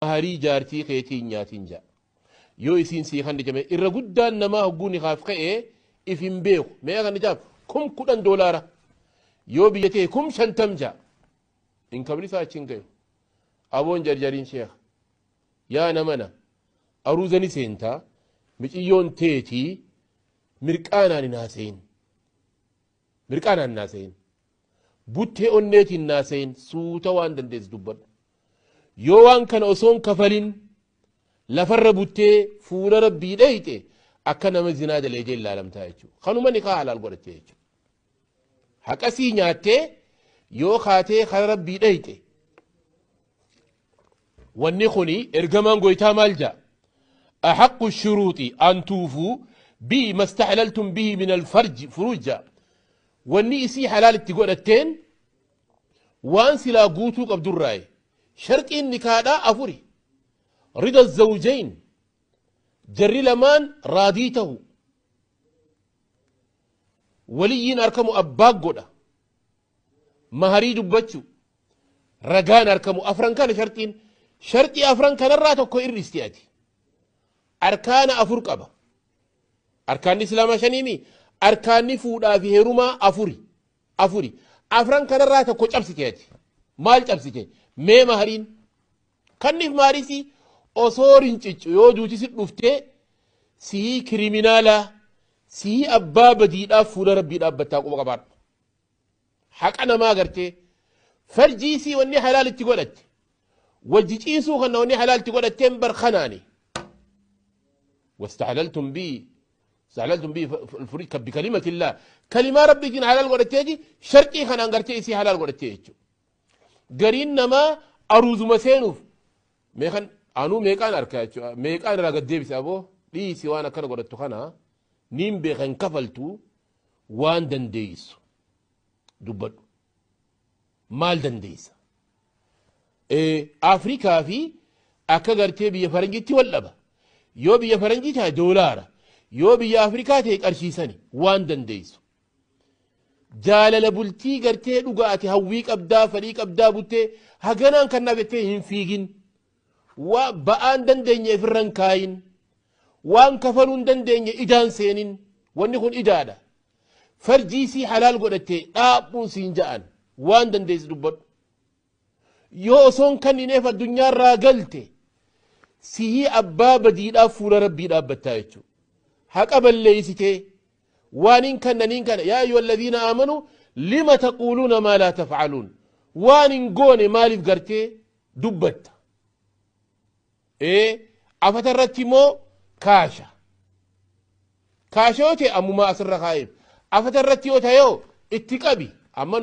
Maharii jaartii keetii hin nyaatin ja'a. Yoo isiin sii kanni jame irra guddaan namaa hogguu nikaaf ka'e if hin beeku. Meeqa kanni jaaf? Kum kudhan doolaara. Yoo biyya ta'e kum shantam ja'a. Inkamni isaa achi hin gayu. Aboon jarjariin sheeka. Yaa namana aruuzani seentaa miciyyoon teetii mirqaanaan hin haasayin. Mirqaanaan naasehin. Buttee onneetiin naasehin. Suuta waan dandeessu dubbadhu. Yoo waan kana osoo hin kafalin lafarra buttee fuula rabbii dheeyxe akka nama zinaa daleegee ilaalamtaa jechuudha. Kanuma nikaa halaal godhattee jechuudha. Haqasii nyaattee yoo kaatee kara rabbii dheeyxe Wanni kuni ergamaan goytaa maal ja'a? Axaqqu shuruuxi an tuufuu bihi mastaxlaltum bihi min alfarji furuuj ja'a. Wanni isii halaal itti godhatteen waan silaa guutuu qabdurraayi. Sharxiin nikaadhaa afuri. Rida zawjayn jarri lamaan raadii tahu. Waliyyiin arkamu abbaa godha. maharii dubbachuu, ragaan arkamu afran kana sharxiin sharxii afran kanarraa tokko irristi ati. Arkaana afur qaba. Arkaanni Islaamaa shaniimi arkaanni fuudhaa fi heerumaa afuri. Afuri. Afran kanarraa tokko cabsite ati. Maal cabsite? Mee mahariin. Kanniif maharisi osoo rinciccu yoo duuti si dhuftee sii kiriminaalaa sii abbaa badiidhaaf fuula rabbii dhaabbattaa quba qabaadhu. haqa namaa gartee farjii isii wanni halaal itti godhatte wajji ciisuu kana wanni halaal itti godhatteen bar kanaani wastahlaltum bi istahlaltum bi furii kabbi kalimatillaa kalimaa rabbiitiin halaal godhatteeti sharxii kanaan gartee isii halaal godhattee jechuudha gariin namaa aruuzuma seenuuf meeqan anuu meeqaan arkaa jechuudha meeqaan irraa gad deebise aboo dhiisi waan akkana godhattu kana niin beekan kafaltu Waan dandeessu dubbadhu. Maal dandeessa? Afrikaa fi akka gartee biyya faranjiitti wal dhaba. Yoo biyya faranjii taa'e doolaara. Yoo biyya Afrikaa ta'e qarshiisani waan dandeessu. Jaalala bultii gartee dhugaa ati hawwii qabdaa, fedhii qabdaa buttee haganaan kannaaf jettee hin fiigin. Waa ba'aa hin dandeenye ifirra hin kaayin. Waan kafaluu hin dandeenye idaa hin seenin. Wanni kun idaadha. Farjii isii halaal godhatte dhaabbuun siin ja'an. Waan dandeessi dubbadhu. Yoo osoo hin kannineef addunyaa irraa galte sihii abbaa badiidhaaf fuula rabbii dhaabbattaa jechuudha. Haqa balleessitee waan hin kannaniin kana yaa ayyuha alladhiina aamanu lima taquuluuna maa laa tafcaluun waan hin goone maaliif gartee dubbatta. Ee, afata irratti immoo kaasha. Kaasha yoo ta'e ammumaa asirra kaa'eef. Afata irratti yoo ta'e yoo itti qabi. Amma